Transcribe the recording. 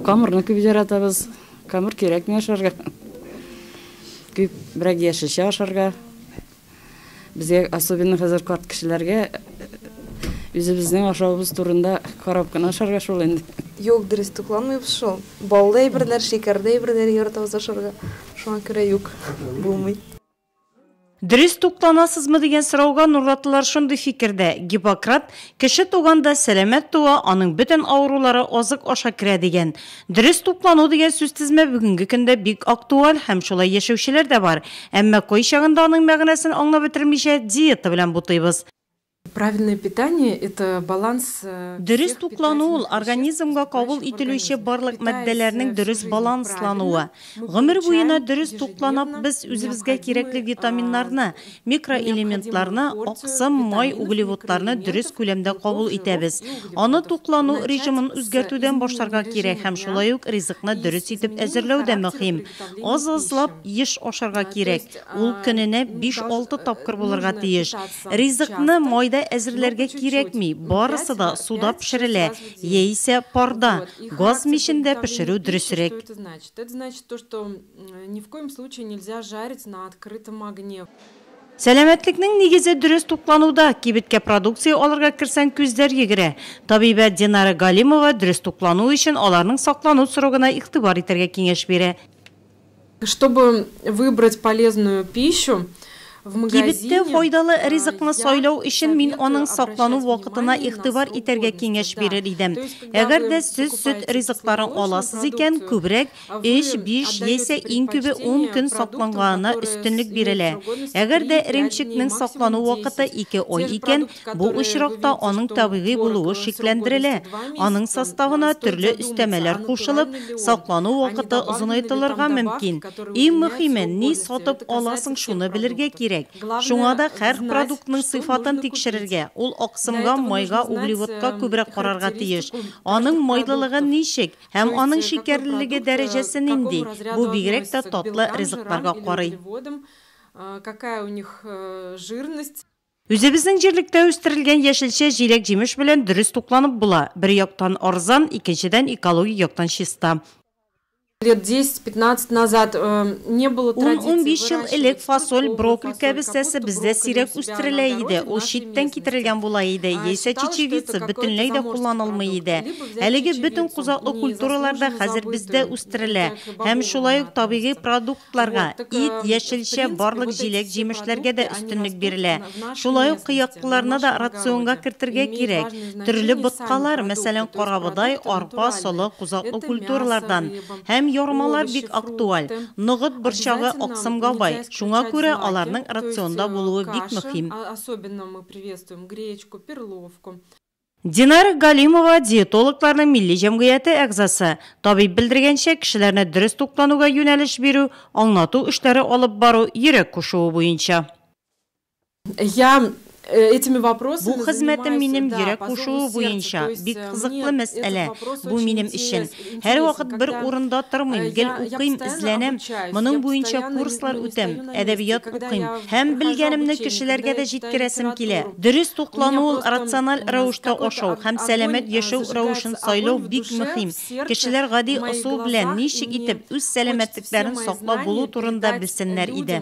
Камырны күп яратабыз. Камыр кирәкми ашарга. Күп берәк яшелчә ашарга. Безгә особенно хәзер карт кешеләргә үзебезнең ашавыбыз турында карап кына ашарга шул инде. Юк, дөрес тукланмыйбыз шул. Баллы әйберләр, шикәрле әйберләр яратабыз ашарга. Шуңа күрә юк, булмый. Дөрес тукланасызмы дигән сорауга нурлатлылар шундый фикердә, Гиппократ, Кеше туган да сәламәт туа, аның бөтен авырулары азык аша керә, дигән. Дөрес туклану дигән сүзтезмә бүгенге көндә бик актуаль һәм шулай яшәүчеләр дә бар. Әмма кайчагында аның мәгънәсен аңлап бетермичә, диета белән бутыйбыз. Правильное питание, это баланс всех питательных веществ. Дөрес туклану ул, организмга кабул ителүче барлык матдәләрнең дөрес баланслануы. Гомер буена дөрес тукланап без үзебезгә кирәкле витаминнарны, микроэлементларны, аксым, май, углеводларны дөрес күләмдә кабул итәбез. Аны туклану режимын үзгәртүдән башларга кирәк һәм шулай ук ризыкны дөрес итеп әзерләү дә мөһим. Аз-азлап еш ашарга кирәк, ул көненә биш-алты тапкыр булырга тиеш. Ризыкны майда әзерләргә кирәкми, барысы да суда пешерелә, яисә парда, газ мичендә пешерү дөресрәк. Сәламәтлекнең нигезе дөрес туклануда, кибеткә продукция алырга керсәң күзләр йөгерә. Табибә Динара Галимова дөрес туклану өчен аларның саклану срогына игътибар итәргә киңәш бирә. Чтобы выбрать полезную пищу в магазине, Кибеттә файдалы ризыкны сайлау өчен мин аның саклану вакытына игътибар итәргә киңәш бирер идем. Әгәр дә сез сөт ризыкларын аласыз икән, күбрәк, өч, биш яисә иң күбе ун көн сакланганына өстенлек бирелә. Әгәр дә эремчекнең саклану вакыты ике ай икән, Бу очракта аның табигый булуы шикләндерелә, аның составына төрле өстәмәләр кушылып, саклану вакыты озынайтылырга мөмкин. Иң мөхиме, ни сатып аласың, шуны белергә кирәк. Шуңа да һәр продуктның сыйфатын тикшерергә, ул аксымга, майга, углеводка күбрәк карарга тиеш. Аның майлылыгы ничек һәм аның шикәрлелеге дәрәҗәсе нинди? Бу бигрәк тә татлы ризыкларга карый. Үзебезнең җирлектә үстерелгән яшелчә, җиләк-җимеш белән дөрес тукланып була. Бер яктан арзан, икенчедән экологик яктан чиста. Лет десять-пятнадцать назад не было традиции выращивать тыкву. Ун-унбиш ел элек фасоль, брокколь кәбестәсе бездә сирәк үстерелә иде, ул читтән китерелгән була иде, яисә чечевица бөтенләй дә кулланылмый иде. Әлеге бөтен кузаклы культуралар да хәзер бездә үстерелә һәм шулай ук табигый продукт. Фруктларга, ит, яшелчә, барлык җиләк-җимешләргә дә өстенлек бирелә. Шулай ук кыяклыларны да рационга кертергә кирәк. Төрле боткалар, мәсәлән, карабодай, арпа, солы, кузаклы культуралардан һәм ярмалар бик актуаль. Ноғыт борчагы аксымга бай, шуңа күрә аларның рационда булуы бик мөһим. Динар Галимова, диетологларның милли җәмгыяте әгъзасы. Табиб белдергәнчә, кешеләрне дөрес туклануга юнәлеш бирү, аңлату эшләре алып бару йөрәк кушуы буенча. Бу хезмәтем минем йөрәк кушуы буенча бик кызыклы мәсьәлә. Бу минем өчен, Һәрвакыт бер урында тормыйм, гел укыйм, эзләнәм, моның буенча курслар үтәм, әдәбият укыйм. Һәм белгәнемне кешеләргә дә җиткерәсем килә. Дөрес туклану ул, рациональ рәвештә ашау һәм сәламәт яшәү рәвешен сайлау бик мөһим. Кешеләр гади ысул белән ничек итеп үз сәламәтлекләрен саклап булу турында белсеннәр иде.